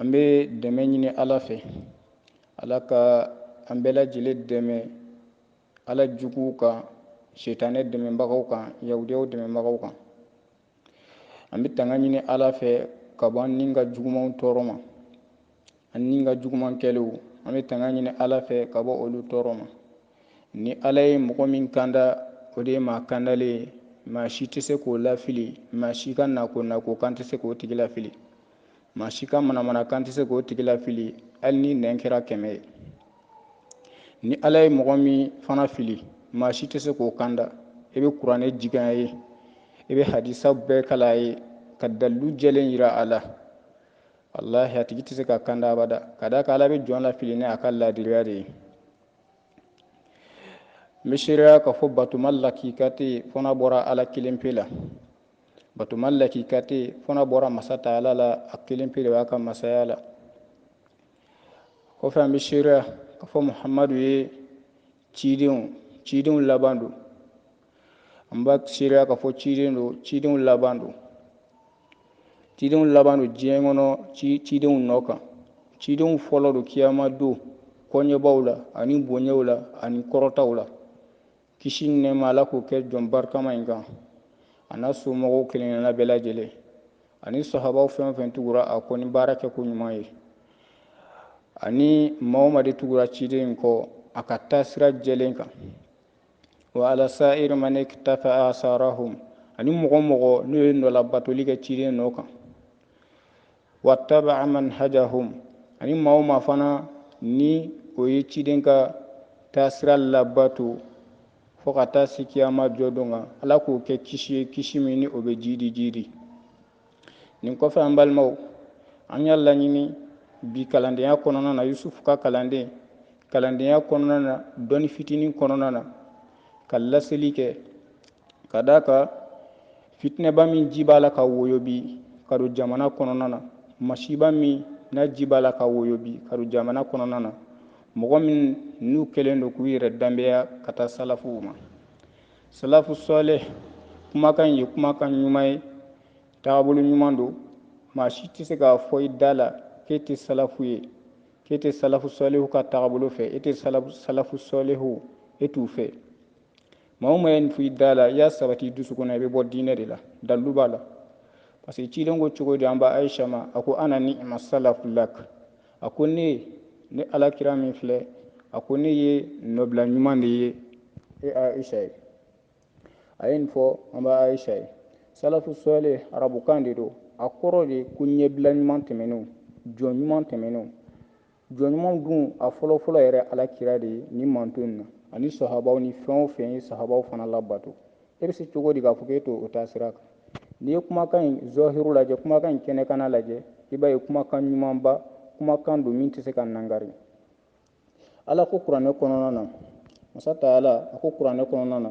an bɛ dɛmɛ ɲini ala fɛ ala ka an bɛɛ lajɛlen dɛmɛ ala juguw kan sitanɛ dɛmɛbagaw kan yahudiyaw dɛmɛbagaw kan an bɛ tanga ɲini ala fɛ ka bɔ an ni ka jugumanw tɔɔrɔ ma an ni ka juguman kɛlenw an bɛ tanga ɲini ala fɛ ka bɔ olu tɔɔrɔ ma ni ala ye mɔgɔ min kanda o de ye maa kandalen ye maa si tɛ se k'o lafili maa si ka nako nako kan tɛ se k'o tigi lafili maa si ka manamana kan tɛ se k'o tigi lafili hali ni nɛn kɛra kɛmɛ ye ni ala ye mɔgɔ min fana fili maa si tɛ se k'o kanda i bɛ kuranɛ jigin a ye i bɛ hadisa bɛɛ kalan a ye ka dalilu jɛlen jira a la walahi a tigi tɛ se ka kanda abada ka d'a kan ala bɛ jɔn lafili ni a ka laadiriya de ye n bɛ seereya k'a fɔ batoma lakika tɛ yen fo n'a bɔra ala kelen pe la batoma lakika tɛ yen fo n'a bɔra masa taala la a kelen pe de b'a ka masaya la kɔfɛ an bɛ seereya k'a fɔ muhamadu ye cidenw cidenw laban don an b'a seereya k'a fɔ ciden don cidenw laban don cidenw laban don diɲɛ kɔnɔ ci cidenw nɔ kan cidenw fɔlɔ don kiyama don koɲɛbaw la ani bonyaw la ani kɔrɔtaw la kisi ni nɛɛma Ala k'o kɛ jɔn barikama in kan a n'a somɔgɔw kelenkelenna bɛɛ lajɛlen ani sahabaw fɛn o fɛn tugura a kɔ ni baara kɛko ɲuman ye ani maa o maa de tugura ciden in kɔ a ka taasira jɛlen kan wa ala sa'iri man iktafa asarahum ani mɔgɔ o mɔgɔ n'o ye nɔlabatoli kɛ ciden nɔ kan wa taba'a manhajahum ani maa o maa fana ni o ye ciden ka taasira labato fo ka taa se kiyama jɔ don kan ala k'o kɛ kisi ye kisi min ni o bɛ jiidi jiidi nin kɔfɛ an balimaw an y'a laɲini bi kalandenya kɔnɔna na yusufu ka kalanden kalandenya kɔnɔna na dɔnni fitinin kɔnɔna na ka laseli kɛ ka d'a kan fitinɛba min ji b'a la ka woyo bi ka don jamana kɔnɔna na masiba min n'a ji b'a la ka woyo bi ka don jamana kɔnɔna na mɔgɔ minnu kɛlen don k'u yɛrɛ danbeya ka taa salafuw ma salafu sɔlɛ kumakan ye kumakan ɲuman ye taabolo ɲuman don maa si tɛ se k'a fɔ i da la k'e tɛ salafu ye k'e tɛ salafu sɔlehu ka taabolo fɛ e tɛ salafu sɔlehu e t'u fɛ maa o maa ye nin f'i da la i y'a sabati dusu kɔnɔ i bɛ bɔ diinɛ de la dalilu b'a la parce que ciden ko cogo di an ba ayisa ma a ko ana niima salafu lak a ko ne ne alakira min filɛ a ko ne ye nɔbila ɲuman de ye e ayisa ye a ye nin fɔ an ba ayisa ye salafu sɔɔle arabukan de don a kɔrɔ de ko ɲɛbila ɲuman tɛmɛnenw jɔn ɲuman tɛmɛnenw jɔn ɲumanw dun a fɔlɔfɔlɔ yɛrɛ ala kira de ye nin mantɔn in na ani sahabaw ni fɛn o fɛn ye sahabaw fana labato e bɛ se cogo di k'a fɔ k'e t'o taa sira kan n'i ye kumakan in zɔhiru lajɛ kumakan in kɛnɛkana lajɛ i b'a ye kumakan ɲumanba kumakan don min tɛ se ka nangari ala ko kuranɛ kɔnɔna na masa taala a ko kuranɛ kɔnɔna na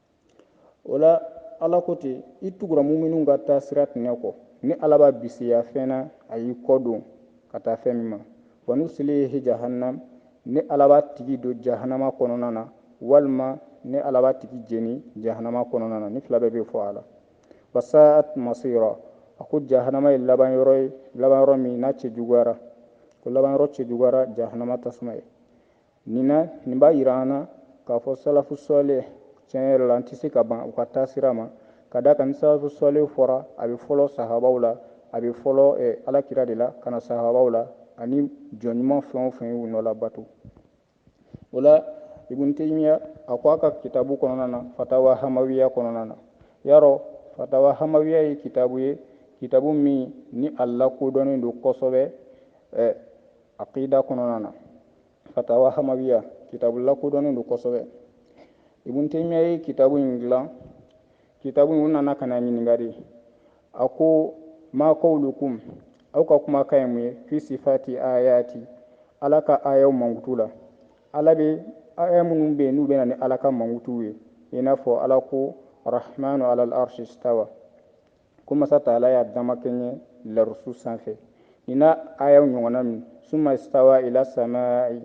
o la ala ko ten i tugura muminun ka taa sira tiɲɛ kɔ ne ala b'a bisiya fɛn na a y'i kɔ don ka taa fɛn min ma wa nuslihi jahannam ne ala b'a tigi don jahanama kɔnɔna na walima ne ala b'a tigi jeni jahanama kɔnɔna na nin fila bɛɛ bɛ fɔ a la wa sa'at masira a ko jahanama ye laban yɔrɔ ye laban yɔrɔ min n'a cɛ juguyara ko laban yɔrɔ cɛ juguyara jahanama tasuma ye nin na nin b'a jira an na k'a fɔ salafu sɔle tiɲɛ yɛrɛ la an tɛ se ka ban u ka taasira ma ka da kan ni salafu sɔle fɔra a bɛ fɔlɔ sahabaw la a bɛ fɔlɔ eh, alakira de la ka na sahabaw la ani jɔn ɲuman fɛn o fɛn y'u nɔ labato o la ibn taymiya a ko a ka kitabu kɔnɔna na fatawa hamawiya kɔnɔna na yarɔ fatawa hamawiya ye kitabu ye kitabu min ni a lakodɔnnen don kosɛbɛ eh, aqida kɔnɔna na fatawa hamawiya kitabu lakodɔnnen don kosɛbɛ ibun temiya ye kitabu in dilan kitabu in u nana ka n'a ɲininka de a ko ma kawlukum aw ka kumakan ye mun ye fi sifati ayati ala ka ayaw mankutu la ala bɛ aya minnu bɛ yen n'u bɛna ni ala ka mankutuw ye i n'a fɔ ala ko rahmanu alal arshi stawa ko masa taala y'a damakɛɲɛ larusu sanfɛ ni n'a ayaw ɲɔgɔnna min suma istawa ila samai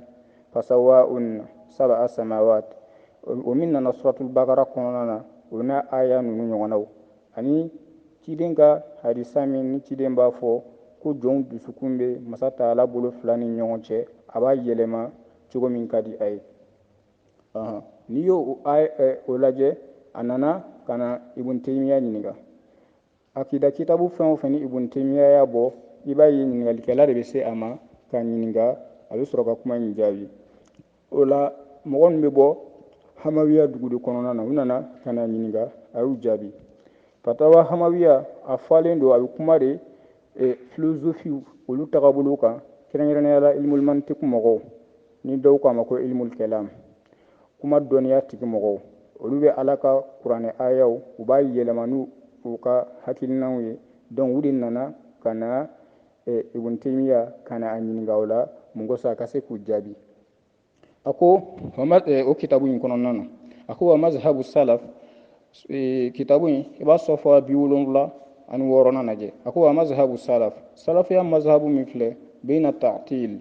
fasawaunna sabaa samawat o min nana suratul bakara kɔnɔna na o n'a aya ninnu ɲɔgɔnnaw ani ciden ka hadisa min ni ciden b'a fɔ ko jɔnw dusukun bɛ masa taala bolo fila ni ɲɔgɔn cɛ a b'a yɛlɛma cogo min ka di a ye n'i y'o o lajɛ a nana ka na ibun temiya ɲininka akida kitabu fɛn o fɛn ni ibun temiya y'a bɔ i b'a ye ɲininkalikɛla de bɛ se a ma k'a ɲininka a bɛ sɔrɔ ka kuma in jaabi o la mɔgɔ min bɛ bɔ hamawiya dugu de kɔnɔna na u nana ka n'a ɲininka a y'u jaabi fatawa hamawiya a fɔlen don a bɛ kuma de filozofiw olu tagabolow kan kɛrɛnkɛrɛnnenya la ilimul mantiki mɔgɔw ni dɔw k'a ma ko ilmul kalam kuma dɔnniya tigi mɔgɔw olu bɛ ala ka kuranɛ ayaw u b'a yɛlɛma ni u ka hakilinanw ye donc u de nana ka na eh, ibn temiya ka na a ɲininka o la mun kosɔn a ka se k'u jaabi a ko eh, o kitabu in kɔnɔna na a ko wa mazhabu salaf eh, kitabu in i b'a safa bi wolonwula ani wɔɔrɔnan lajɛ a ko wa mazhabu salaf salafiya mazhabu min filɛ bayna ta'til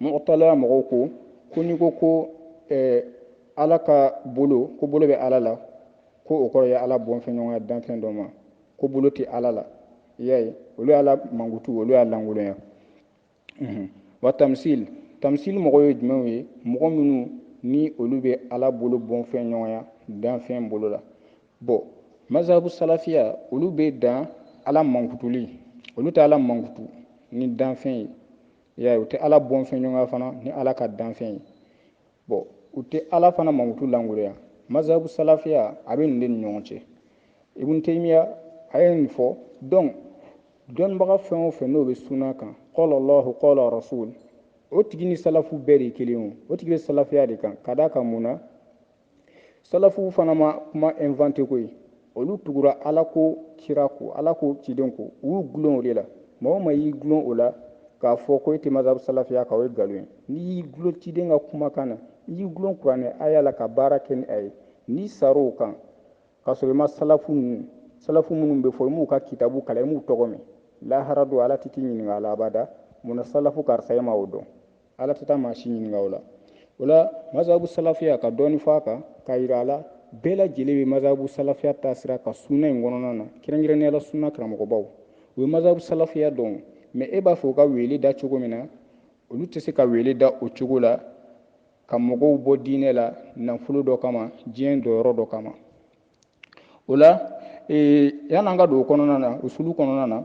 mu'atila mɔgɔw ko ko n'i ko ko eh, ala ka bolo ko bolo bɛ ala la ko o kɔrɔ ye ala bɔnfɛɲɔgɔnya danfɛn dɔ ma ko bolo tɛ ala la i y'a ye olu ye ala mankutu olu y'a lankolonya mhm. wa tamsil tamsil mɔgɔ ye jumɛnw ye mɔgɔ minnu ni olu bɛ ala bolo bɔnfɛɲɔgɔnya danfɛn bolo la bɔn mazabu salafiya olu bɛ dan ala mankutuli olu tɛ ala mankutu ni danfɛn ye ya u tɛ ala bɔnfɛn ɲɔgɔn fana ni ala ka danfɛn ye bɔn u tɛ ala fana mankutu lankolonya mazabu salafiya a bɛ nin de ni ɲɔgɔn cɛ ibun temiya a ye nin fɔ donc dɔnnibaga fɛn o fɛn n'o bɛ suna kan qala llahu qala rasul o tigi ni salafu bɛɛ de ye kelen o tigi bɛ salafiya de kan ka d'a kan mun na salafuw fana ma kuma inventer koyi olu tugura ala ko kira ko ala ko ciden ko u y'u gulon o de la maa o maa y'i gulon o la k'a fɔ ko e tɛ mazhabu salafiya kan o ye nkalon ye n'i y'i gulon ciden ka kumakan na n'i y'i gulon kuranɛ aya la ka baara kɛ ni a ye n'i sar'o kan k'a sɔrɔ i ma salafu ninnu salafu minnu bɛ fɔ i m'u ka kitabu kalan i m'u tɔgɔ mɛn lahara don ala tɛ t'i ɲininka a la abada mun na salafu karisa e ma o dɔn ala tɛ taa maa si ɲininka o la o la mazabu salafiya ka dɔɔni fɔ a kan k'a yira a la bɛɛ lajɛlen bɛ mazabu salafiya taasira kan sunna in kɔnɔna na kɛrɛnkɛrɛnnenya la sunna karamɔgɔbaw u ye mazabu salafiya dɔn mɛ e b'a fɛ u ka weele da cogo min na olu tɛ se ka weele da o cogo la ka mɔgɔw bɔ diinɛ la nafolo dɔ kama diɲɛ dɔyɔrɔ dɔ kama o la yan'an ka don o kɔnɔna na usulu kɔnɔna na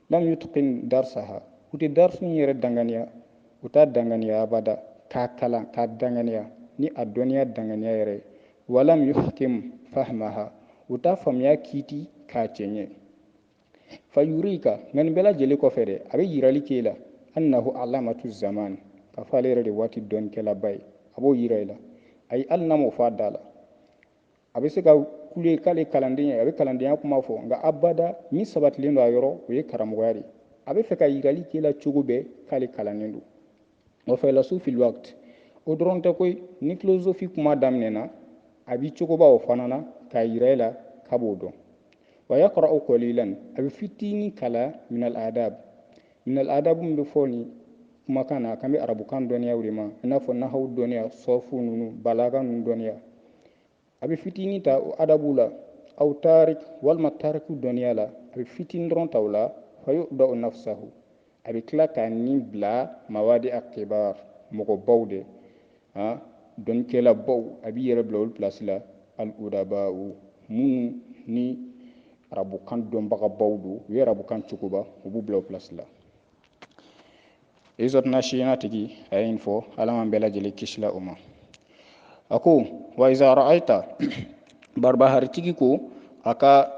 lam yutqin darsaha u tɛ darsu in yɛrɛ danganiya u t'a danganiya abada k'a kalan k'a danganiya ni a dɔnniya danganiya yɛrɛ ye walam yuhkim fahmaha u t'a faamuya kiiti k'a cɛɲɛ fa yurika nka nin bɛɛ lajɛlen kɔfɛ dɛ a bɛ yirali k'e la annahu allamatu zaman k'a fɔ ale yɛrɛ de waati dɔnnikɛlaba ye a b'o yira i la ayi hali n'a m'o fɔ a da la a bɛ se ka kule k'ale kalanden ye a bɛ kalandenya kuma fɔ nka abada min sabatilen don a yɔrɔ o ye karamɔgɔya de a bɛ fɛ ka yirali k'e la cogo bɛɛ k'ale kalannen don wa faylasuful waqt o dɔrɔn tɛ koyi ni filozofi kuma daminɛna a b'i cogoba o fana na k'a yira e la k'a b'o dɔn wa yaqra'u qalilan a bɛ fitinin kala minal adab Minal adabu min bɛ fɔ nin kumakan na a kan bɛ arabukan dɔnniyaw de ma i n'a fɔ nahaw dɔnniya sɔfu ninnu balaga ninnu dɔnniya a bɛ fitinin ta o adabu la aw tarik walima tariku dɔnniya la a bɛ fitinin dɔrɔn ta o la fa yada'u nafsahu a bɛ tila k'a ni bila mawadi akibar mɔgɔbaw de han dɔnnikɛlabaw a b'i yɛrɛ bila olu pilasi la al udabaw minnu ni arabukan dɔnbagabaw don u ye arabukan cogoba u b'u bila o pilasi la izɔtuna siyana tigi a ye nin fɔ ala m'an bɛɛ lajɛlen kisila o ma a ko wa iza ra'ayita baribaharitigi ko a ka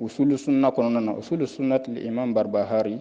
usulu sunna kɔnɔna na usulu sunnati imam barbahari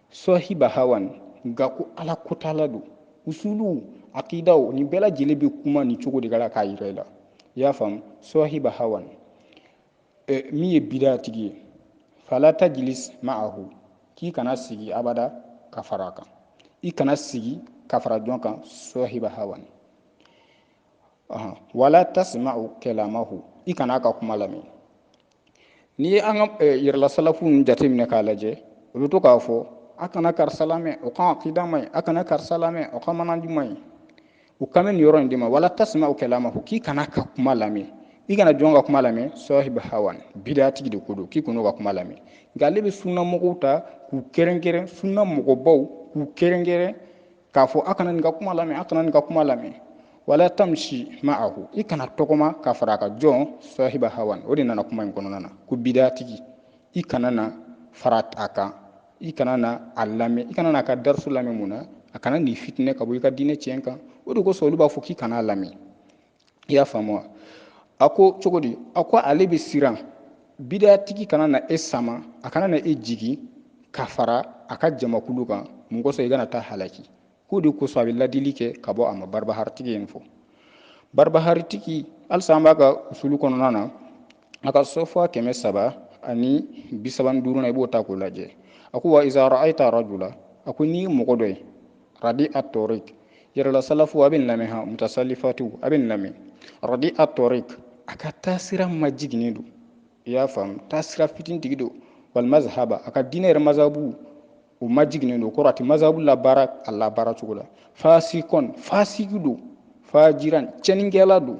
sɔhiba hawan nka ko ala kotala don usuluw akidaw nin bɛɛ lajɛlen bɛ kuma nin cogo de ka la k'a yira i la i y'a faamu sɔhiba hawan min ye bida tigi ye fala tajlis ma'ahu k'i kana sigi abada ka fara a kan i kana sigi ka fara jɔn kan sɔhiba hawan wala tasma'u kalamahu i kana a ka kuma lamɛn n'i ye an ka eh, yɛrɛla salafu ninnu jateminɛ k'a lajɛ u bɛ to k'a fɔ a kana karisa lamɛn o ka akida man ɲi a kana karisa lamɛn o ka manhaji man ɲi u kan bɛ nin yɔrɔ in de ma wala tasma'u kalamahu k'i kana a ka kuma lamɛn i kana jɔn ka kuma lamɛn sɔhiba hawan bidatigi de ko don k'i kana a ka kuma lamɛn nka ale bɛ sunna mɔgɔw ta k'u kɛrɛnkɛrɛn sunna mɔgɔbaw k'u kɛrɛnkɛrɛn k'a fɔ a kana nin ka kuma lamɛn a kana nin ka kuma lamɛn wala tamsi ma'ahu i kana tɔgɔma ka fara a kan jɔn sahiba hawan o de nana kuma in kɔnɔna na ko bidatigi i kana na fara a kan i kana na a lamɛn i kana na a ka darisu lamɛn mun na a kana n'i fitinɛ ka bɔ i ka diinɛ tiɲɛ kan o de kosɔn olu b'a fɔ k'i kana a lamɛn i y'a faamu wa a ko cogo di a ko ale bɛ siran bidatigi kana na e sama a kana na e jigin ka fara a ka jamakulu kan mun kosɔn i kana taa halaki k'o de kosɔn a bɛ ladili kɛ ka bɔ a ma baribaharitigi in fɔ baribaharitigi halisa an b'a ka usulu kɔnɔna na a ka sɔfa kɛmɛ saba ani bi saba ni duurunan i b'o ta k'o lajɛ a ko wa iza ra'ayita arajula a ko n'i mɔgɔ dɔ ye radi'a tɔriki yɛrɛla salafu a b'a lamɛn ha mutasalifatu a b'a lamɛn radi'a tɔriki a ka taasira majiginnen don i y'a faamu taasira fitintigi don wal mazahaba a ka diinɛ yɛrɛ mazhabu o majiginnen don kɔrɔ a tɛ mazhabu labaara a labaara cogo la fasikan fasiki don fajiran cɛnnikɛla don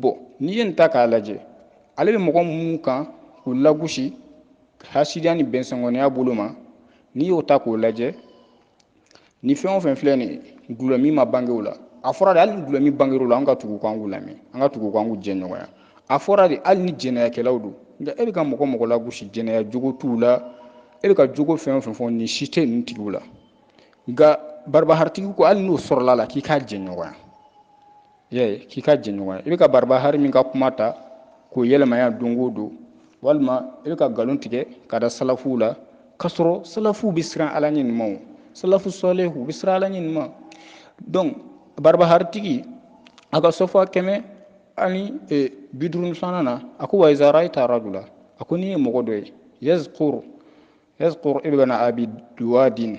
bɔn n'i ye nin ta k'a lajɛ ale bɛ mɔgɔ minnu kan k'u lagosi hasidiya ni bɛnsɛngɔniya bolo ma n'i y'o ta k'o lajɛ ni fɛn o fɛn filɛ nin gulɔ min ma bange o la a fɔra de hali ni gulɔ min bangera o la an ka tugu k'an k'u lamɛn an ka tugu k'an k'u jɛɲɔgɔnya a fɔra de hali ni jɛnɛyakɛlaw don nka e bɛ ka mɔgɔ o mɔgɔ lagosi jɛnɛya jogo t'u la e bɛ ka jogo fɛn o fɛn fɔ nin si tɛ ninnu tigiw la nka barbaharitigi ko hali n'o sɔrɔla a la k'i k'a jɛɲɔgɔnya ye k'i k'a jɛɲɔgɔnya i bɛ ka barbahari min ka kuma ta k'o yɛlɛmaya don o don walima i bɛ ka nkalon tigɛ k'a da salafuw la k'a sɔrɔ salafuw bɛ siran ala ɲɛ ɲumanw salafu sɔlihu u bɛ siran ala ɲɛ ɲuman donc barbaharitigi a ka safa kɛmɛ ani e, bi duuru ni filanan na a ko wa iza rayita rajula a ko n'i ye mɔgɔ dɔ ye yazkur yazkur ibn abi duwadin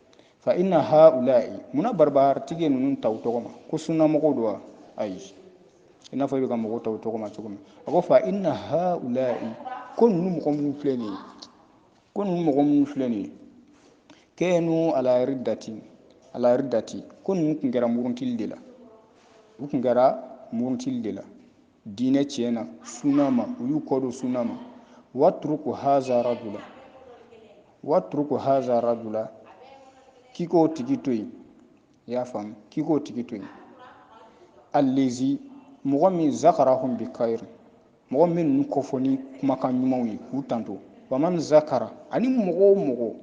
fa inna haulai mun na barbaharitigi ye ninnu ta u tɔgɔ ma ko sunnamɔgɔw don wa ayi i n'a fɔ i bɛ ka mɔgɔw ta u tɔgɔ ma cogo min a ko fa inna haulai ko ninnu mɔgɔ minnu filɛ nin ye ko ninnu mɔgɔ minnu filɛ nin ye kanu ala riddati ala riddati ko ninnu tun kɛra murutili de la u tun kɛra murutili de la diinɛ tiɲɛ na sunna ma u y'u kɔ don sunna ma watruku haza rajula watruku haza rajula k'i k'o tigi to yen i y'a faamu k'i k'o tigi to yen allazi mɔgɔ min zakarahum bi kayr mɔgɔ min ninnu kofɔ ni kumakan ɲumanw ye k'u tanto waman zakara ani mɔgɔ o mɔgɔ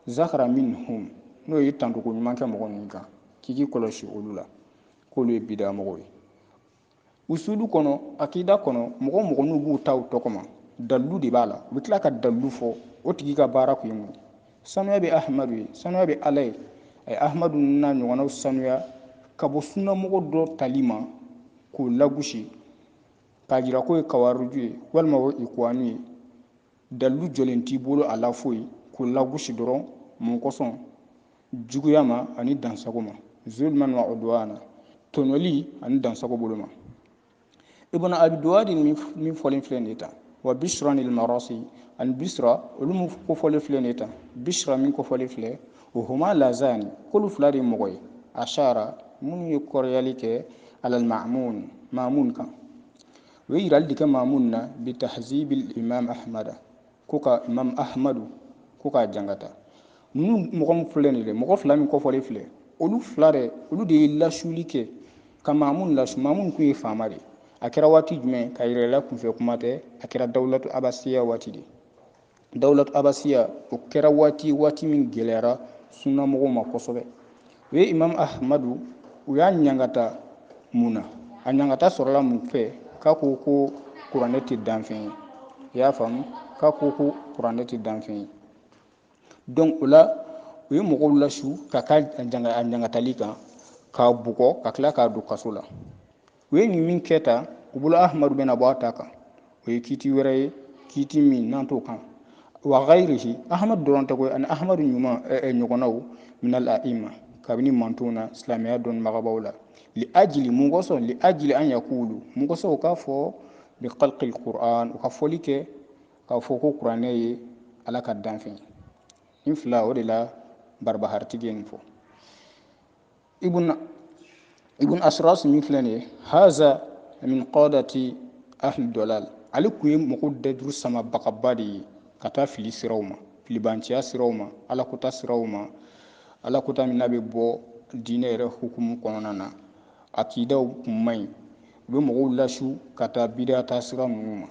zakara minhum n'o ye tantoko ɲuman kɛ mɔgɔ ninnu kan k'i k'i kɔlɔsi olu la k'olu ye bidamɔgɔw ye usulu kɔnɔ akida kɔnɔ mɔgɔ o mɔgɔ n'u b'u ta u tɔgɔ ma dalilu de b'a la u bɛ tila ka dalilu fɔ o tigi ka baara kun ye mun ye sanuya bɛ ahamadu ye sanuya bɛ ala ye a ye ahamadu n'a ɲɔgɔnnaw sanuya ka bɔ sunnamɔgɔ dɔ tali ma k'o lagosi k'a jira k'o ye kawariju ye walima o ye ikuwani ye dalilu jɛlen t'i bolo a la foyi k'o lagosi dɔrɔn mun kosɔn juguya ma ani dansago ma zulman wa udwana tɔɲɔli ani dansago bolo ma ibn abi duwadi min fɔlen filɛ nin ye tan wa bisrani marisi ani bisra olu min kofɔlen filɛ nin ye tan bisra min kofɔlen filɛ wa huma lazani k'olu fila de ye mɔgɔw ye ashara minnu ye kɔrɔyali kɛ alal ma'mun ma'mun kan u ye yirali de kɛ ma'munu na bi ta'zibil imam ahmada ko ka imam ahmadu ko k'a jankata ninnu mɔgɔ min filɛ nin dɛ mɔgɔ fila min kofɔlen filɛ olu fila dɛ olu de ye lasuli kɛ ka ma'munu lasu ma'munu tun ye faama de a kɛra waati jumɛn k'a yir'i la kunfɛ kuma tɛ a kɛra dawulatu abasiya waati de dawulat abasiya o kɛra waati waati min gɛlɛyara sunnamɔgɔw ma kosɛbɛ u ye imam ahmadu u y'a ɲangata mun na a ɲangata sɔrɔla mun fɛ k'a ko ko kuranɛ tɛ danfɛn ye i y'a faamu k'a ko ko kuranɛ tɛ danfɛn ye donc o la u ye mɔgɔw lasu ka ka a ɲangatali kan k'a bugɔ ka tila k'a don kaso la u ye nin min kɛ ta u bolo ahmadu bɛna bɔ a ta kan o ye kiiti wɛrɛ ye kiiti min n'an t'o kan wa gayirihi ahmadu dɔrɔn tɛ koyi ani ahmadu ɲuman ɲɔgɔnnaw min al-a'ima kabini mantonw na silamɛya dɔnnibagabaw la li ajili mun kosɔn li ajili an yakulu mun kosɔn u k'a fɔ bi khalqil qur'an u ka fɔli kɛ k'a fɔ ko kuranɛ ye ala ka danfɛn ye nin fila o de la barbahari tigi ye nin fɔ ibn ibn asras min filɛ nin ye haza min qadati ahli dalal ale kun ye mɔgɔw dajuru samabagaba de ye ka taa fili siraw ma filibanciya siraw ma alakota siraw ma alakota min n'a bɛ bɔ diinɛ yɛrɛ hukumu kɔnɔna na aqidaw kun man ɲi u bɛ mɔgɔw lasu ka taa bidaa taasira ninnu ma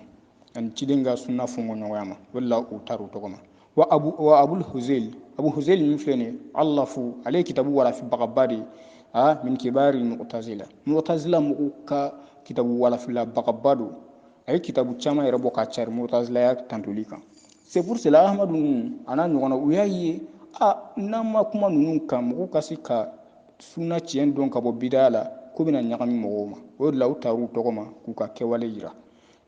ani ciden ka sunna fɔnkɔɲɔgɔnya ma o de la u tara u tɔgɔ ma wa abu wa abul huzail abu huzail min filɛ nin ye alafu ale ye kitabu walafibagaba de ye a min kibari mu'tazila mu'tazila mɔgɔw ka kitabu walafilabagaba don a ye kitabu caman yɛrɛ bɔ ka cari mu'tazilaya tantoli kan c'est pour cela ahmadu ninnu a n'a ɲɔgɔnna u y'a ye a n'an ma kuma ninnu kan mɔgɔw ka se ka sunna tiɲɛ dɔn ka bɔ bidaya la ko bɛna ɲagami mɔgɔw ma o de la u tar'u tɔgɔ ma k'u ka kɛwale yira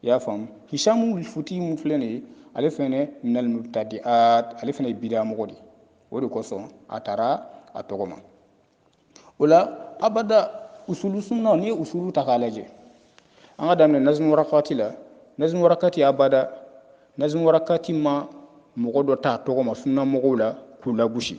i y'a faamu hisamu futi min filɛ nin ye ale fɛnɛ minal mubtadiat ale fɛnɛ ye bidaa mɔgɔ de o de kosɔn a tara a tɔgɔ ma o la abada usulu sunna n'i ye usulu ta k'a lajɛ an ka daminɛ nazmu warakati la nazmu warakati abada nazmu warakati ma mɔgɔ dɔ t'a tɔgɔ ma sunna mɔgɔw la k'u lagosi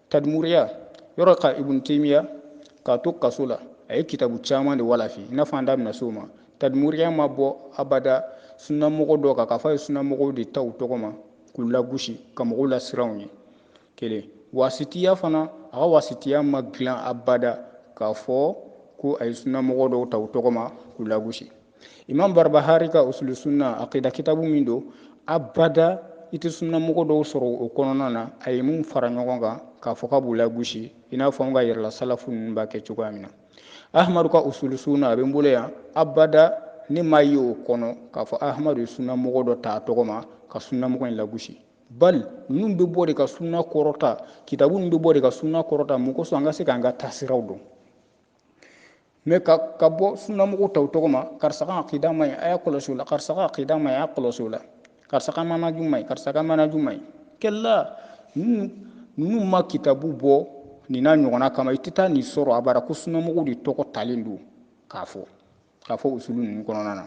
tadmuriya yɔrɔ ka ibun temiya k'a to kaso la a ye kitabu caman de walafi i n'a fɔ an da bɛna se o ma tadmuriya ma bɔ abada sunnamɔgɔ dɔ kan k'a fɔ a ye sunnamɔgɔw de ta u tɔgɔ ma k'u lagosi ka mɔgɔw lasiran u ye kelen wasitiya fana a ka wasitiya ma dilan abada k'a fɔ ko a ye sunnamɔgɔ dɔw ta u tɔgɔ ma k'u lagosi imam barbahari ka usulu sunna aqida kitabu min don abada i tɛ sunnamɔgɔ dɔw sɔrɔ o kɔnɔna na a ye min fara ɲɔgɔn kan k'a fɔ k'a b'u lagosi i n'a fɔ an ka yɛrɛla salafu ninnu b'a kɛ cogoya min na ahmadu ka usulu sunna a bɛ n bolo yan abada ne m'a ye o kɔnɔ k'a fɔ ahmadu ye sunnamɔgɔ dɔ ta a tɔgɔ ma ka sunnamɔgɔ in lagosi bali ninnu bɛ bɔ de ka sunna kɔrɔta kitabu ninnu bɛ bɔ de ka sunna kɔrɔta mun kosɔn an ka se k'an ka taasiraw dɔn mais ka ka bɔ sunnamɔgɔ tɔw tɔgɔ ma karisa ka akida man ɲi a y'a kɔlɔsi o la karisa ka akida man ɲi a y'a kɔlɔsi o la karisa ka manaju man ɲi karisa ka manaju man ɲi kɛla ninnu ninnu ma kitabu bɔ nin n'a ɲɔgɔnna kama i tɛ taa nin sɔrɔ abada ko sunnamɔgɔw de tɔgɔ talen don k'a fɔ k'a fɔ usulu ninnu kɔnɔna na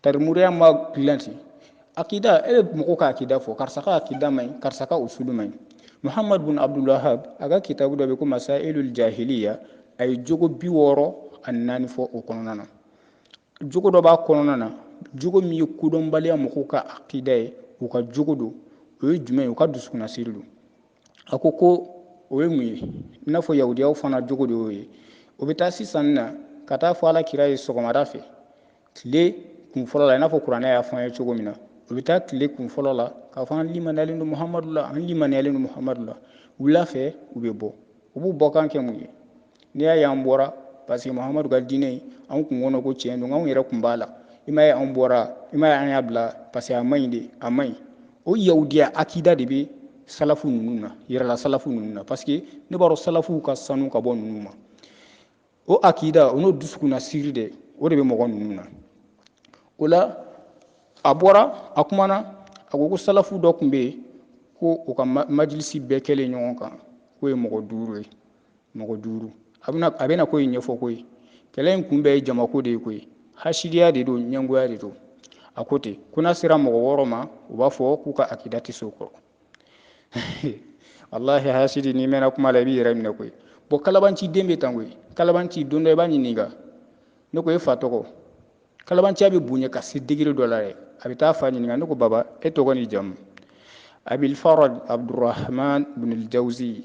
tarimuriya ma dilan ten akida e bɛ mɔgɔ ka akida fɔ karisa ka akida man ɲi karisa ka usulu man ɲi muhammad bin abdulwahab a ka kitabu dɔ bɛ ko masailul jahiliya a ye jogo bi wɔɔrɔ ani naani fɔ o kɔnɔna na jogo dɔ b'a kɔnɔna na jogo min ye kodɔnbaliya mɔgɔw ka akida ye u ka jogo don o ye jumɛn ye u ka dusukunnasiri don a ko ko o ye mun ye i n'a fɔ yahudiyaw fana jogo de y'o ye u bɛ taa sisan na ka taa fɔ ala kira ye sɔgɔmada fɛ tile kun fɔlɔ la i n'a fɔ kuranɛ y'a fɔ an ye cogo min na u bɛ taa tile kun fɔlɔ la k'a fɔ an limaniyalen don muhamadu la an limaniyalen don muhamadu la wula fɛ u bɛ bɔ u b'u bɔkan kɛ mun ye n'i y'a ye an bɔra parce que mahamadu ka diinɛ in an kun kɔnɔ ko tiɲɛ don anw yɛrɛ kun b'a la i m'a ye an bɔra i m'a ye an y'a bila parce que a man ɲi de a man ɲi o yahudiya akida de bɛ salafu ninnu na yɛrɛla salafu ninnu na parce que ne b'a dɔn salafuw ka sanu ka bɔ ninnu ma o akida o n'o dusukunnasiri de o de bɛ mɔgɔ ninnu na o la a bɔra a kumana a ko ko salafu dɔw tun bɛ yen ko u ka majilisi bɛɛ kɛlen ɲɔgɔn kan k'o ye mɔgɔ duuru ye mɔgɔ duuru a bɛna a bɛna ko in ɲɛfɔ ko ye kɛlɛ in kun bɛɛ ye jamako de ye ko ye hasidiya de don ɲɛngoya de don a ko ten ko n'a sera mɔgɔ wɔɔrɔ ma u b'a fɔ k'u ka akida tɛ so kɔrɔ walahi hasidi n'i mɛnna kuma la i b'i yɛrɛ minɛ koyi bɔn kalabanci de bɛ tan koyi kalabanci don dɔ i b'a ɲininka ne ko e fa tɔgɔ kalabanciya bɛ bonya ka se degere dɔ la dɛ a bɛ taa fa ɲininka ne ko baba e tɔgɔ ni jamu abilfaraj abdurahman bin jawuzi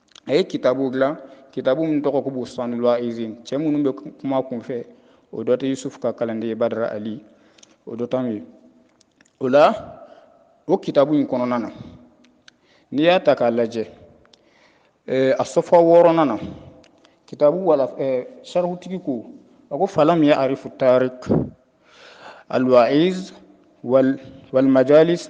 a ye kitabu dilan kitabu min tɔgɔ ko bustanul waizin cɛ minnu bɛ kuma kunfɛ o dɔ tɛ yusufu ka kalanden ye badara ali o dɔ t'an ye o la o kitabu in kɔnɔna na n'i y'a ta k'a lajɛ eh, a safha wɔɔrɔnan na kitabu wala eh, sarihutigi ko a ko falam ya arifu tarik alwaiz wal, walmajalis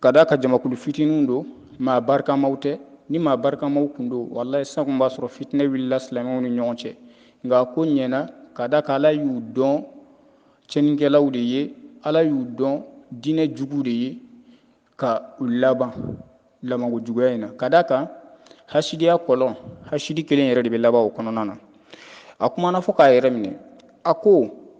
ka d'a kan jamakulu fitininw don maa barikamaw tɛ ni maa barikamaw kun don walayi san kun b'a sɔrɔ fitinɛ wulila silamɛw ni ɲɔgɔn cɛ nka ko ɲɛna ka d'a kan ala y'u dɔn cɛnikɛlaw de ye ala y'u dɔn diinɛ jugu de ye ka u laban labanko juguya in na ka d'a kan hasidiya kɔlɔn hasidi kelen yɛrɛ de bɛ laban o kɔnɔna na a kumana fo k'a yɛrɛ minɛ a ko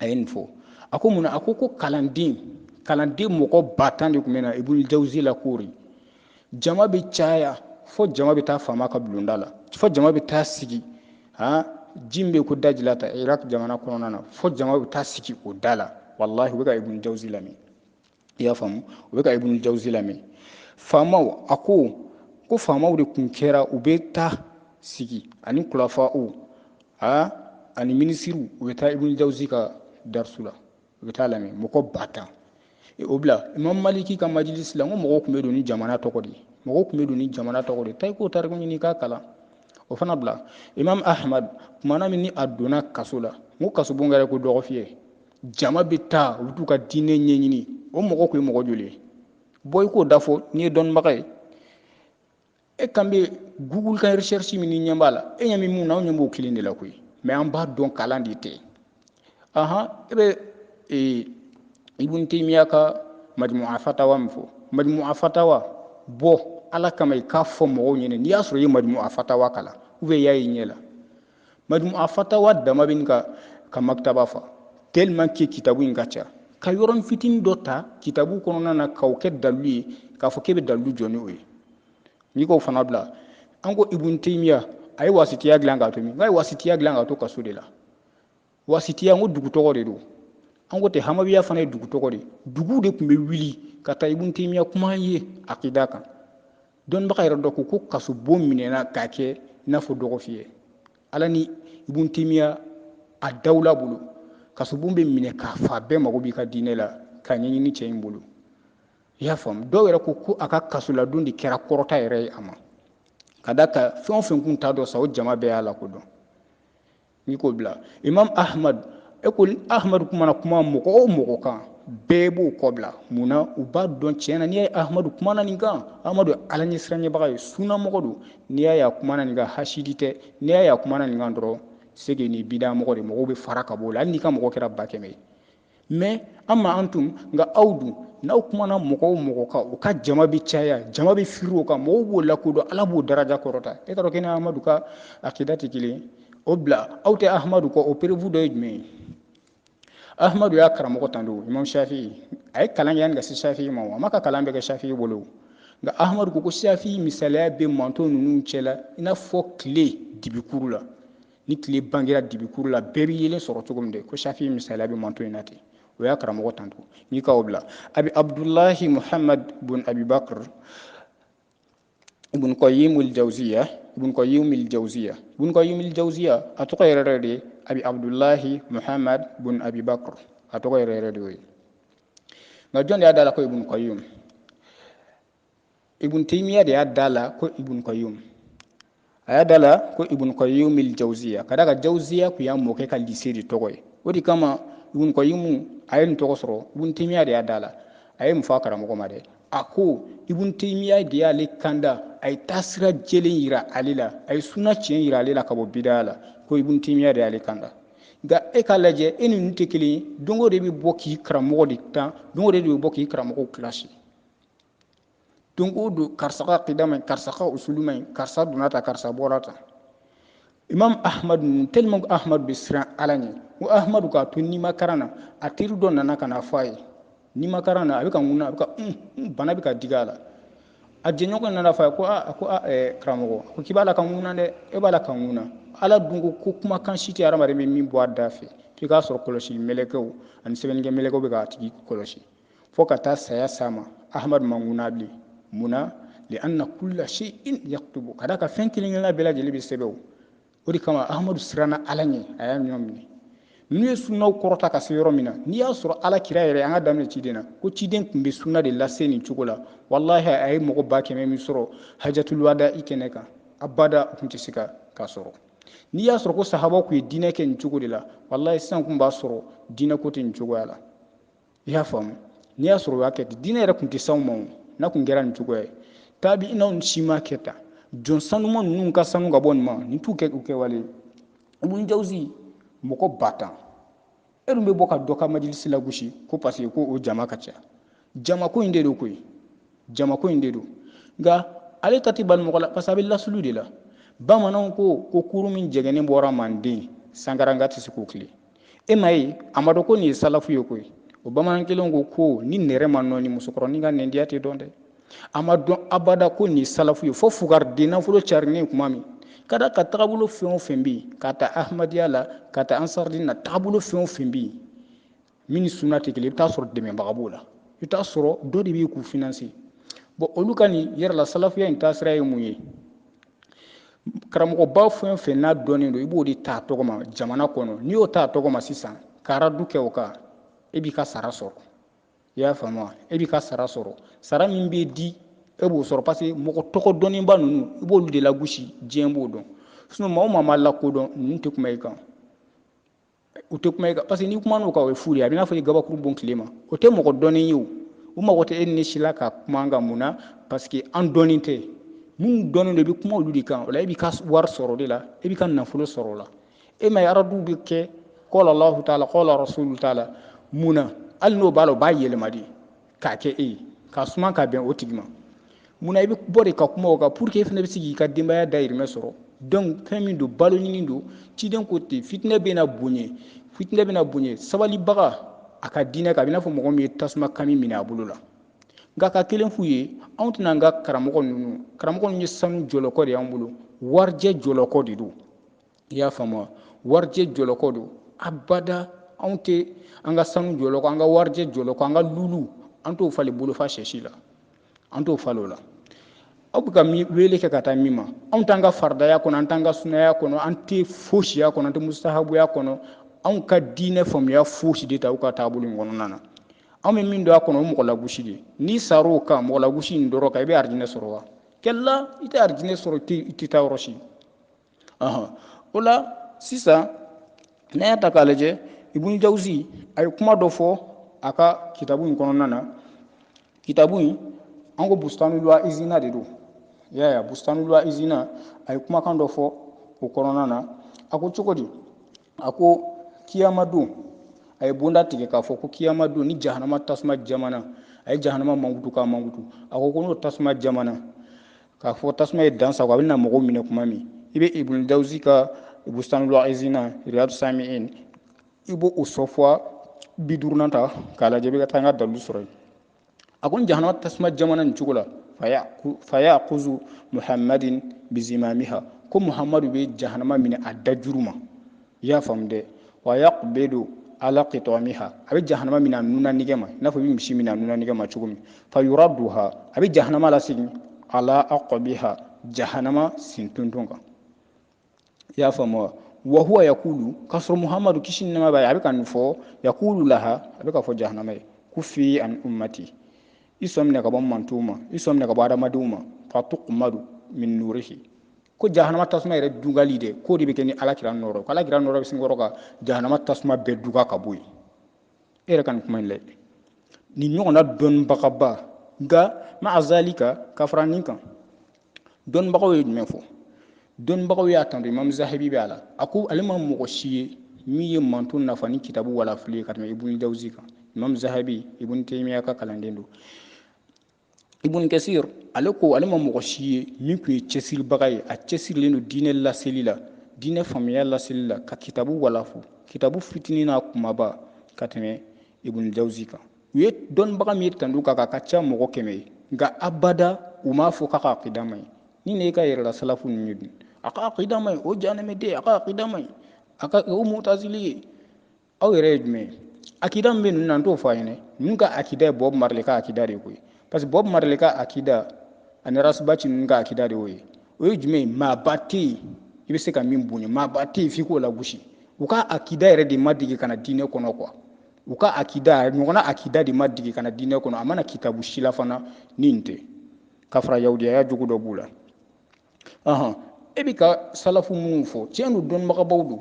a ye nin fɔ a ko mun na a ko ko kalanden kalanden mɔgɔ ba tan de tun bɛ na ibunu jawuzi lakoori jama bɛ caya fo jama bɛ taa faama ka bulonda la fo jama bɛ taa sigi han ji min bɛ ko dajilata iraq jamana kɔnɔna na fo jama bɛ taa sigi o da la walahi u bɛ ka ibunu jawuzi lamɛn i y'a faamu u bɛ ka ibunu jawuzi lamɛn faamaw a ko ko faamaw de tun kɛra u bɛ taa sigi ani kulafaw a ani minisiriw u bɛ taa ibunu jawuzi ka darisu la u bɛ taa lamɛn mɔgɔ ba tan e, o bila imam maliki ka majilisi la n ko mɔgɔw tun bɛ don ni jamana tɔgɔ de ye mɔgɔw tun bɛ don ni jamana tɔgɔ de ye taa i k'o tariku ɲini k'a kalan o fana bila imam ahmad tumana min ni a donna kaso la n ko kasobon kɛra ko dɔgɔfiyɛ jama bɛ taa u bɛ t'u ka diinɛ ɲɛɲini o mɔgɔ tun ye mɔgɔ joli ye bɔ i k'o da fɔ n'i ye dɔnnibaga ye e kan bɛ google ka recherche min ni ɲɛ b'a la e ɲɛ bɛ mun na anw ɲɛ b'o kelen de la koyi mɛ an b'a dɔn kalan de tɛ ahan e bɛ ee ibun temiya ka majmu afatawa min fɔ majmu afatawa bɔ ala kama i k'a fɔ mɔgɔw ɲɛna n'i y'a sɔrɔ i ye majmu afatawa kalan ou bien i y'a ye ɲɛ la majmu afatawa dama bɛ n ka maktaba fa tellement que kitabu in ka ca ka yɔrɔn fitini dɔ ta kitabu kɔnɔna na k'o kɛ dalilu ye k'a fɔ k'e bɛ dalilu jɔ ni o ye n'i k'o fana bila an ko ibun teyimiya a ye wasitiya dilan k'a to min nka a ye wasitiya dilan k'a to kaso de la wasitiya n ko dugu tɔgɔ de don an ko tɛ hamawiya fana ye dugu tɔgɔ de dugu de tun bɛ wuli ka taa ibun temiya kuma ye akida kan dɔnnibaga yɛrɛ dɔ ko ko kasobon minɛna k'a kɛ i n'a fɔ dɔgɔfiyɛ ala ni ibun temiya a dawula bolo kasobon bɛ minɛ k'a fa bɛɛ mago b'i ka diinɛ la k'a ɲɛɲini cɛ in bolo i y'a faamu dɔw yɛrɛ ko ko a ka kasoladon de kɛra kɔrɔta yɛrɛ ye a ma ka d'a kan fɛn o fɛn kun t'a dɔn sa o jama bɛɛ y'a lakodɔn n'i k'o bila imam ahmad e ko ahmadu kumana kuma mɔgɔ o mɔgɔ kan bɛɛ b'o kɔ bila mun na u b'a dɔn tiɲɛ na n'i y'a ye ahmadu kumana nin kan ahmadu ala ɲɛ siranɲɛbaga ye sunnamɔgɔ don n'i y'a ye a kumana nin kan hasidi tɛ n'i y'a ye a kumana nin kan dɔrɔn c'est que nin bidamɔgɔ de mɔgɔw bɛ fara ka b'o la hali n'i ka mɔgɔ kɛra ba kɛmɛ ye mɛ an ma an tun nka aw dun n'aw kumana mɔgɔ o mɔgɔ kan u ka jama bɛ caya jama bɛ firi o kan mɔgɔw b'o lakodɔn ala b'o daraja kɔrɔta i k'a dɔn k'e ni ahamadu ka akida tɛ kelen o bila aw tɛ ahamadu kɔ o preuve dɔ ye jumɛn ye ahamadu y'a karamɔgɔ tan don imam shafi a ye kalan kɛ yanni ka se shafi ma a m'a ka kalan bɛɛ kɛ shafi bolo nka ahamadu ko ko shafi misaliya bɛ mantɔn ninnu cɛla i n'a fɔ tile dibikuru la ni tile bangera dibikuru la bɛɛ bɛ yeelen sɔrɔ cogo min de ko safi misaliya bɛ mantɔn in na ten o y'a karamɔgɔ tando n'i ka o bila abi abdulahi muhammad bun abibakr ibn qayyim al jawziya ibn qayyim al jawziya ibn qayyim al jawziya a tɔgɔ yɛrɛ yɛrɛ de abi abdulahi muhammad bun abibakr a tɔgɔ yɛrɛ yɛrɛ de y'o ye nka jɔn de y'a da la ko ibn qayyim ibn taymiya de y'a da la ko ibn qayyum a y'a da la ko ibn qayyum il jawziya ka d'a kan jawziya kun y'a mɔkɛ ka lise de tɔgɔ ye o de kama ibn qayyum a ye nin tɔgɔ sɔrɔ ibn taymiya de y'a da la a ye mun fɔ a karamɔgɔ ma dɛ a ko ibn taymiya de y'ale kanda a ye taasira jɛlen yira ale la a ye suna tiɲɛ yira ale la ka bɔ bida'a la ko ibn taymiya de y'ale kanda nka e k'a lajɛ e ni ninnu tɛ kelen ye don o don e bɛ bɔ k'i karamɔgɔ de tan don o don e bɛ bɔ k'i karamɔgɔw kilasi don o don karisa ka akida man ɲi karisa ka usulu man ɲi karisa donna tan karisa bɔra tan imam ahmadu ninnu tellement ko ahmadu bɛ siran ala ɲɛ ko ahmadu k'a to nimakaran na a teri dɔ nana ka na bɔ a ye nimakaran na a bɛ ka ŋuna a bɛ ka bana bɛ ka digi a la a jɛɲɔgɔn nana fɔ a ye ko a ko karamɔgɔ ko k'i b'a la ka ŋuna dɛ e b'a la ka ŋuna ala dun ko ko kumakan si tɛ hadamaden bɛ min bɔ a da fɛ f'i k'a sɔrɔ kɔlɔsi mɛlɛkɛw ani sɛbɛnnikɛ mɛlɛkɛw bɛ k'a tigi kɔlɔsi fo ka taa saya s'a ma ahamadu ma ŋuna bilen mun na li anna kula seyin yukutabu ka d'a kan fɛn kelen kelenna bɛɛ lajɛlen bɛ sɛbɛn o o de kama ahamadu siranna ala ɲɛ a y'a ɲɔ minɛ n'u ye sunnaw kɔrɔta ka se yɔrɔ min na n'i y'a sɔrɔ ala kira yɛrɛ an ka daminɛ ciden na ko ciden tun bɛ sunna de lase nin cogo la walahi a ye mɔgɔ ba kɛmɛ min sɔrɔ hajatuluwadai kɛnɛ kan abada u tun tɛ se ka k'a sɔrɔ n'i y'a sɔrɔ ko sahaba tun ye diinɛ kɛ nin cogo de la walahi sisan tun b'a sɔrɔ diinɛ ko tɛ nin cogoya la i y'a faamu n'i y'a sɔrɔ o y'a kɛ ten diinɛ yɛrɛ tun tɛ s'anw ma o n'a tun kɛra nin cogoya ye taabiinaw si ma kɛ tan jɔn sanuma ninnu ka sanu ka bɔ nin ma nin t'u kɛ u kɛwale ye ibun jawuzi mɔgɔ ba tan e dun bɛ bɔ ka dɔ ka majilisi lagosi ko parce que ko o jama ka ca jamako in de don koyi jamako in de don nka ale ta tɛ bali mɔgɔ la parce que a bɛ lasulu de la bamananw ko ko kurun min jɛgɛnnen bɔra manden sankaranka tɛ se k'o tilen e m'a ye a ma dɔn ko nin ye salafu ye koyi o bamanan kelen ko ko ni nɛrɛ ma nɔɔni musokɔrɔnin ka nɛndiya tɛ dɔn dɛ a ma dɔn abada ko nin ye salafu ye fo fugariden nafolo carinen kuma min ka d'a kan tagabolo fɛn o fɛn bɛ yen ka ta ahmadiyya la ka ta ansarudin na tagabolo fɛn o fɛn bɛ yen min ni sunna tɛ kelen i bɛ t'a sɔrɔ dɛmɛbaga b'o la i bɛ t'a sɔrɔ dɔ de bɛ yen k'u finanse bɔn olu ka nin yɛrɛ la salafuya in taasira ye mun ye karamɔgɔba fɛn fɛn n'a dɔnnen don i b'o de ta tɔgɔma jamana kɔnɔ n'i y'o ta tɔgɔma sisan ka aradu kɛ o kan e b'i ka sara sɔrɔ i y'a faamu wa e b'i ka sara sɔrɔ sara min bɛ di e b'o sɔrɔ parce que mɔgɔ tɔgɔ dɔnnenba ninnu i b'olu de lagosi diɲɛ b'o dɔn sinon maa o maa ma lakodɔn ninnu tɛ kuma i kan u tɛ kuma parce que n'i kumana u kan o ye fu de a bɛ n'a fɔ i gabakuru bon tile ma o tɛ mɔgɔ dɔnnen ye o u mago tɛ e ni si la ka kuma an kan mun na parce que an dɔnnen tɛ minnu dɔnnen don i bɛ kuma olu de kan o la e b'i ka wari sɔrɔ o de la e b'i ka nafolo sɔrɔ o la e m'a ye araduw bɛ kɛ kɔla lahu t'a la kɔla rasulu t'a la mun na hali n'o b'a la o b'a yɛlɛma de k'a kɛ e ye ka suma ka bɛn o tigi ma mun na i bɛ bɔ de ka kuma o kan pour que e fana bɛ se k'i ka denbaya dayirimɛ sɔrɔ donc fɛn min don balo ɲini don ciden ko ten fitinɛ bɛ na bonya fitinɛ bɛ na bonya sabalibaga a ka diinɛ kan a bɛ n'a fɔ mɔgɔ min ye tasuma kami minɛ a bolo la nka ka kelen f'u ye anw tɛna an ka karamɔgɔ ninnu karamɔgɔ ninnu ye sanu jɔlɔkɔ de y'an bolo warijɛ jɔlɔkɔ de don i y'a faamu warijɛ jɔlɔkɔ don abada anw tɛ an ka sanu jɔlɔkɔ an ka warijɛ jɔlɔkɔ an ka lulu an t'o falen bolofa sɛsi la an t'o falen o la aw bɛ ka wele kɛ ka taa min ma anw t'an ka faridaya kɔnɔ an t'an ka sunaya kɔnɔ an tɛ fosiya kɔnɔ an tɛ musahabuya kɔnɔ anw ka diinɛ faamuya fosi de t'aw ka taabolo in kɔnɔna na anw bɛ min dɔn a kɔnɔ o mɔgɔ lagosi de n'i sara o kan mɔgɔ lagosi in dɔrɔn kan i bɛ arijinɛ sɔrɔ wa kalla i tɛ arijinɛ sɔrɔ i tɛ taa yɔrɔ si o la sisan n'an y'a ta k'a lajɛ ibun jawusi a ye kuma dɔ fɔ a ka kitabu in kɔnɔna na kitabu in an ko bustanul waizina de don i y'a ye bustanul waizina a ye kumakan dɔ fɔ o kɔnɔna na a ko cogo di a ko kiyama don a ye bonda tigɛ k'a fɔ ko kiyama don ni jahanama tasuma jamana a ye jahanama mankutu k'a mankutu a ko ko n'o tasuma jamana k'a fɔ tasuma ye dan sagon a bɛna mɔgɔw minɛ kuma min i bɛ ibn jawusi ka bustanul waizina riyadu samiin i b'o o sɔfɔ bi duurunan ta k'a lajɛ i bɛ taa n ka dalilu sɔrɔ yen a ko jahanama tasuma jamana nin cogo la fa yakuzu muhammadin bizimamiha ko muhammadu bɛ jahanama minɛ a da juru ma i y'a faamu dɛ wa yaqbidu ala qitamiha a bɛ jahanama minɛ a nunna nɛgɛ ma i n'a fɔ i bɛ misi minɛ a nunna nɛgɛ ma cogo min fa yuraduha a bɛ jahanama lasegin ala aqabiha jahanama sentonton kan i y'a faamu wa wa huwa yakulu k'a sɔrɔ muhamadu kisi ni nɛɛma b'a ye a bɛ ka nin fɔ yakulu laha a bɛ k'a fɔ jahanama ye kufi an ummati i sɔn minɛ ka bɔ mantɔnw ma i sɔn minɛ ka bɔ adamadenw ma fa tuqmadu min nurihi ko jahanama tasuma yɛrɛ dugali de k'o de bɛ kɛ ni ala kira nɔɔrɔ ko ala kira nɔɔrɔ bɛ sin kɔrɔ ka jahanama tasuma bɛɛ duga ka bɔ yen e yɛrɛ ka nin kuma in lajɛ nin ɲɔgɔnna dɔnnibagaba nka maa zalika ka fara nin kan dɔnnibagaw ye jumɛn fɔ dɔnnibagaw y'a tando imamu zahabi bɛ a la a ko ale ma mɔgɔ si ye min ye manton nafa ni kitabu walafili ye ka tɛmɛ ibuni jawuzi kan imamu zahabi ibuni temiya ka kalanden don ibuni kɛsir ale ko ale ma mɔgɔ si ye min tun ye cɛsiribaga ye a cɛsirilen don diinɛ laseli la diinɛ faamuya laseli la ka kitabu walafi kitabu fitinin n'a kunbaba ka tɛmɛ ibuni jawuzi kan u ye dɔnnibaga min y'a tando ka ka ka ca mɔgɔ kɛmɛ ye nka abada u m'a fɔ k'a ka akida man ɲi ni ne ka yɛrɛla salafu ninnu ye dun a ka akida man ɲi o jahanama den a ka akida man ɲi a ka o mutazili ye aw yɛrɛ ye jumɛn ye akida min bɛ ninnu na n t'o fɔ a ɲɛna ninnu ka akida ye bob marley ka akida de ye koyi parce que bob marley ka akida ani ras bath ninnu ka akida de y'o ye o ye jumɛn ye maaba tɛ yen i bɛ se ka min bonya maaba tɛ yen f'i k'o lagosi u ka akida yɛrɛ de ma deli ka na diinɛ kɔnɔ kuwa u ka akida ɲɔgɔnna akida de ma deli ka na diinɛ kɔnɔ a ma na kitabu si la fana ni nin tɛ ka fara yahudiyaya jogo dɔ b'u la ɔhɔn e bɛ ka salafu minnu fɔ tiɲɛ don dɔnnibagabaw don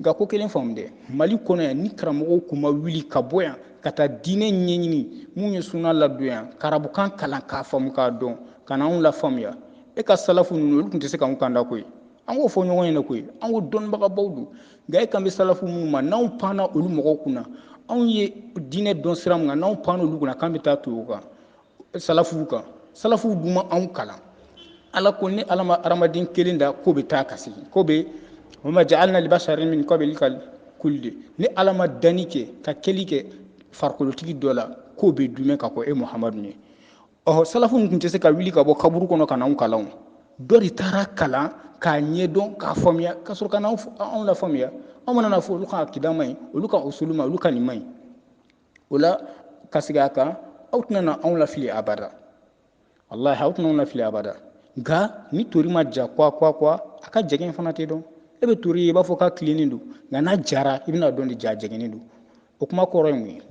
nka ko kelen faamu dɛ mali kɔnɔ yan ni karamɔgɔw tun ma wuli ka bɔ yan ka taa diinɛ ɲɛɲini minnu ye suna ladon yan k'arabukan kalan k'a faamu k'a dɔn ka na anw lafaamuya e ka salafu ninnu olu tun tɛ se k'anw kalan koyi an k'o fɔ ɲɔgɔn ɲɛna koyi an ko dɔnnibagabaw don nka e kan bɛ salafu minnu ma n'anw panna olu mɔgɔw kunna anw ye diinɛ dɔn sira min kan n'anw panna olu kunna k'an bɛ taa to o kan salafuw kan salafuw dun ma anw kalan ala ko ne ala ma hadamaden kelen da k'o bɛ taa ka segin k'o bɛ wa ma ja'alna libasarin min qablikal kuldi ne ala ma danni kɛ ka kɛli kɛ farikolotigi dɔ la k'o bɛ duumɛ ka kɔn e muhamadu ɲɛ ɔhɔ salafu tun tɛ se ka wuli ka bɔ kaburu kɔnɔ ka na anw kalan dɔ de taara kalan k'a ɲɛdɔn k'a faamuya ka sɔrɔ ka anw lafaamuya aw mana n'a fɔ olu ka akida man ɲi olu ka usulu man ɲi olu ka nin man ɲi o la ka segin a kan aw tɛna na anw lafili abada walahi aw tɛna anw lafili abada nka ni tori ma ja kwa kwa kwa a ka jɛgɛn fana tɛ dɔn e bɛ tori ye i b'a fɔ k'a tilennen don nka n'a jara i bɛn'a dɔn de jaa jɛgɛnnen don o kuma kɔrɔ ye mun ye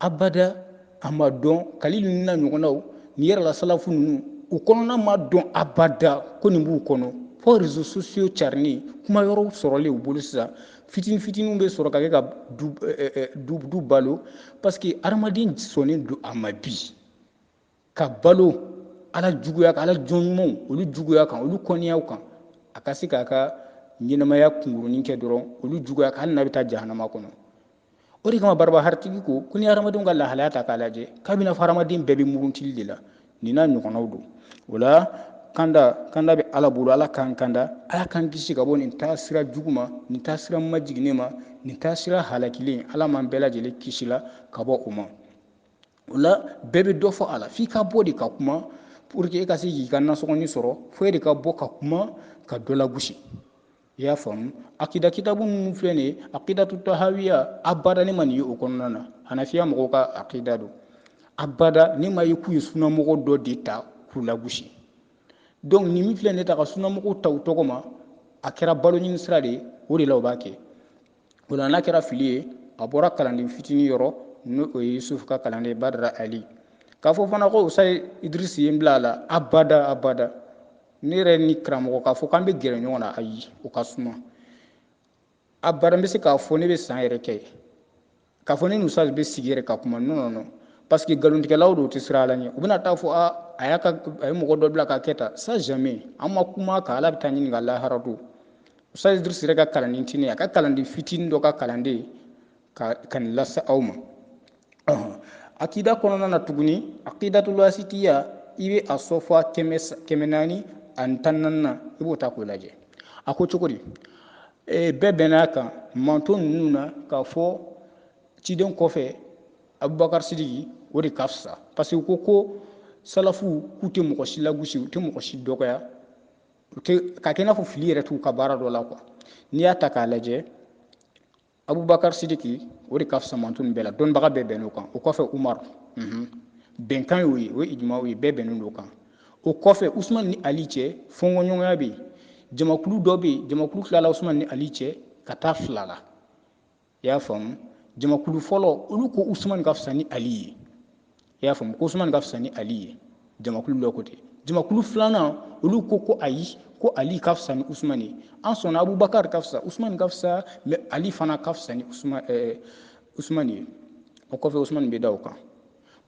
abada a ma dɔn kalilu nin n'a ɲɔgɔnnaw ni yɛrɛla salafu ninnu u kɔnɔna ma dɔn abada ko nin b'u kɔnɔ fo réseaux sociaux carinnen kuma yɔrɔw sɔrɔlen u bolo sisan fitini fitiniw bɛ sɔrɔ ka kɛ ka du balo parce que hadamaden sɔnnen don a ma bi ka balo ala juguya kan ala jɔn ɲumanw olu juguya kan olu kɔniyaw kan a ka se k'a ka ɲɛnamaya kunkurunin kɛ dɔrɔn olu juguya kan hali n'a bɛ taa jahanama kɔnɔ o de kama barabahari tigi ko ko ni hadamadenw ka lahalaya ta k'a lajɛ k'a bɛn'a fɔ hadamaden bɛɛ bɛ muruntili de la nin n'a ɲɔgɔnnaw don o la kanda kanda bɛ ala bolo ala k'an kanda ala k'an kisi ka bɔ nin taasira jugu ma nin taasira majiginnen ma nin taasira halakilen ala m'an bɛɛ lajɛlen kisila ka bɔ o ma o la bɛɛ bɛ dɔ fɔ a la f'i ka bɔ de ka kuma pour que e ka se k'i ka nasɔngɔni sɔrɔ fo e de ka bɔ ka kuma ka dɔ lagosi i y'a faamu akida kitabu minnu filɛ nin ye akidatu tahawiya abada ne ma nin ye o kɔnɔna na hanafiya mɔgɔw ka akida don abada ne m'a ye k'u ye sunamɔgɔ dɔ de ta k'u lagosi donc nin min filɛ ne ta ka sunamɔgɔw ta u tɔgɔ ma a kɛra balo ɲini sira de ye o de la o b'a kɛ o la n'a kɛra fili ye a bɔra kalanden fitinin yɔrɔ n'o ye yusufu ka kalanden badara ali k'a fɔ fana ko usaz idirisi ye n bila a la abada abada ne yɛrɛ ni karamɔgɔ k'a fɔ k'an bɛ gɛrɛ ɲɔgɔn na ayi o ka suma abada n bɛ se k'a fɔ ne bɛ san yɛrɛ kɛ k'a fɔ ne ni usaz bɛ sigi yɛrɛ ka kuma non non non parce que nkalontigɛlaw don u tɛ siran Ala ɲɛ u bɛna taa fɔ a a y'a ka a ye mɔgɔ dɔ bila k'a kɛ tan ça jamais an ma kuma ka Ala bɛ taa ɲininka lahara don usaz Idrisi yɛrɛ ka kalanden tɛ ne ye a ka kalanden fitinin dɔ ka kalanden ka ka nin lase aw ma akida kɔnɔna na tuguni akidatul wasitiya i bɛ a sɔfa kɛmɛ kɛmɛ naani ani tan naaninan i b'o ta k'o lajɛ a ko cogo di ee bɛɛ bɛnn'a kan mantɔn ninnu na k'a fɔ ciden kɔfɛ abubakar sidiki o de ka fisa parce que ko ko salafu k'u tɛ mɔgɔ si lagosi u tɛ mɔgɔ si dɔgɔya u tɛ k'a kɛ i n'a fɔ fili yɛrɛ t'u ka baara dɔ la quoi n'i y'a ta k'a lajɛ abubakar sidiki o de ka fisa mantɔn nin bɛɛ la dɔnnibaga bɛɛ bɛnn'o kan o kɔfɛ umaru bɛnkan y'o ye o ye ijima ye bɛɛ bɛnnen don o kan o kɔfɛ usumani ni ali cɛ fɔnkɔɲɔgɔnya bɛ yen jamakulu dɔ bɛ yen jamakulu tilala usumani ni ali cɛ ka taa fila la i y'a faamu jamakulu fɔlɔ olu ko usumani ka fisa ni ali ye i y'a faamu ko usumani ka fisa ni ali ye jamakulu dɔ ko ten jamakulu filanan olu ko ko ayi ko ali ka fisa ni usumani ye an sɔnna abubakari ka fisa usumani ka fisa mais ali fana ka fisa ni usumani eh, ye o kɔfɛ usumani bɛ da o kan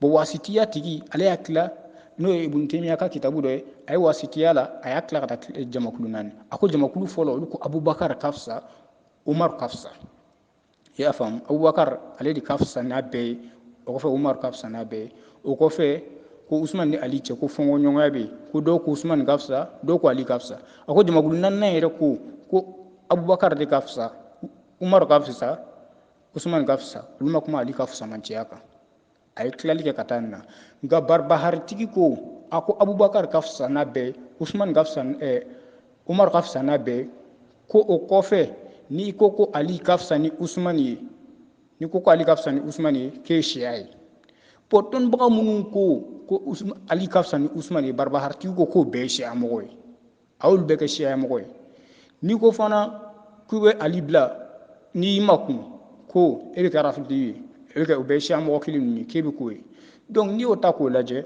bon wasitiya tigi ale y'a tila n'o ye ibun temiya ka kitabu dɔ ye a ye wasitiya la a y'a tila ka taa eh, jamakulu naani a ko jamakulu fɔlɔ olu ko abubakar ka fisa umar ka fisa i y'a faamu abubakar ale de ka fisa n'a bɛɛ ye o kɔfɛ umar ka fisa n'a bɛɛ ye o kɔfɛ ko usman ni ali cɛ ko fɔnkɔɲɔgɔnya bɛ yen ko dɔw ko usman ka fisa dɔw ko ali ka fisa a ko jamakulu naaninan yɛrɛ ko ko abubakar de ka fisa umar ka fisa usman ka fisa olu ma kuma ali ka fisamancɛya kan a ye tilali kɛ ka taa nin na nka baribaharitigi ko a ko abubakar ka fisa n'a bɛɛ usman ka fisa eh, umar ka fisa n'a bɛɛ ko o kɔfɛ n'i ko ko ali ka fisa ni usman ye n'i ko ko ali ka fisa ni usman ye k'e siya ye bon dɔnnibaga minnu ko ko ali ka fisa ni usman ye baribaharitigi ko k'o bɛɛ ye siya mɔgɔ ye aw bɛɛ kɛ siyamɔgɔ ye n'i ko fana k'u bɛ ali bila n'i makun ko e bɛ kɛ arafidi ye e bɛ kɛ u bɛ siyamɔgɔ kelen ninnu ye k'e bɛ k'o ye donc n'i y'o ta k'o lajɛ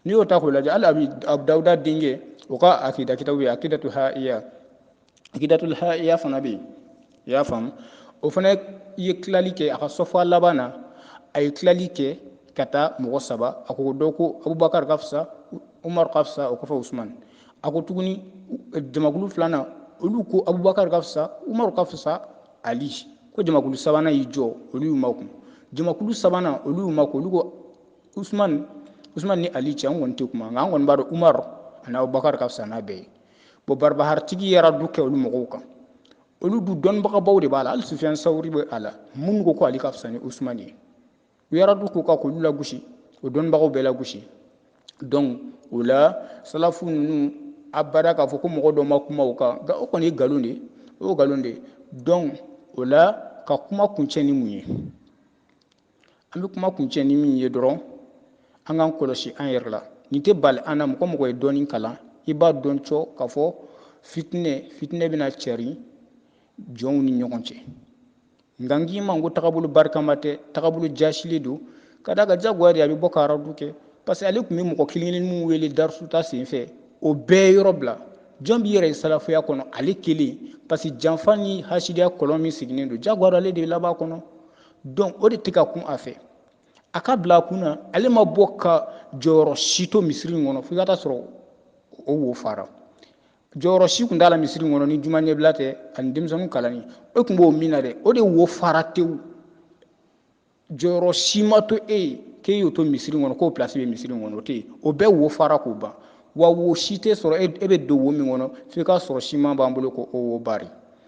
n'i y'o ta k'o lajɛ hali abi dawuda denkɛ o ka akida kitabu ye akidatu haiya akidatul haiya fana bɛ yen i y'a faamu o fana ye tilali kɛ a ka sɔfɔ laban na a ye tilali kɛ ka taa mɔgɔ saba a ko dɔ ko abubakar ka fisa umar ka fisa o kɔfɛ usman a ko tuguni jamakulu filanan olu ko abubakar ka fisa umar ka fisa ali ko jamakulu sabanan y'i jɔ olu y'u makun jamakulu sabanan olu y'u makun olu ko usman usman ni ali cɛ an kɔni tɛ kuma nka an kɔni b'a dɔn umar ani abubakar ka fisa n'a bɛɛ ye bon baribaharitigi ye aradu kɛ olu mɔgɔw kan olu dun dɔnbagabaw de b'a la hali sufiyan sawuri bɛ a la minnu ko ko ali ka fisa ni usumani ye u ye aradu k'u kan k'olu lagosi o dɔnbagaw bɛɛ lagosi donc o la salafu ninnu abada k'a fɔ ko mɔgɔ dɔ ma kuma o kan nka o kɔni ye nkalon de ye o ye nkalon de ye donc o la ka kuma kuncɛ ni mun ye an bɛ kuma kuncɛ ni min ye dɔrɔn an k'an kɔlɔsi an yɛrɛ la nin tɛ bali an na mɔgɔ mɔgɔ ye dɔɔnin kalan i b'a dɔn cɔ k'a fɔ fitinɛ fitinɛ bɛna cari jɔnw ni ɲɔgɔn cɛ nka n k'i ma ko tagabolo barikama tɛ tagabolo jasili don ka da ka jagoya de a bɛ bɔ ka aradu kɛ parce que ale tun bɛ mɔgɔ kelen kelen minnu wele darisuta senfɛ o bɛɛ yɔrɔ bila jɔn b'i yɛrɛ ye salafuya kɔnɔ ale kelen parce que janfa ni hasidiya kɔlɔn min sigilen don jagoya ale de ye laban kɔnɔ dɔn o de tɛ ka kun a fɛ a ka bila a kun na ale ma bɔ ka jɔyɔrɔ si to misiri in kɔnɔ fo i ka taa sɔrɔ o wo fara jɔyɔrɔ si tun t'a la misiri in kɔnɔ ni juma ɲɛbila tɛ ani denmisɛnninw kalanni e tun b'o min na dɛ o de wo fara tewu jɔyɔrɔ si ma to e ye k'e y'o to misiri kɔnɔ k'o pilasi bɛ misiri kɔnɔ o tɛ yen o bɛɛ wo fara k'o ban wa wo si tɛ sɔrɔ e bɛ don wo min kɔnɔ f'i k'a sɔrɔ siman b'an bolo ko o wo bari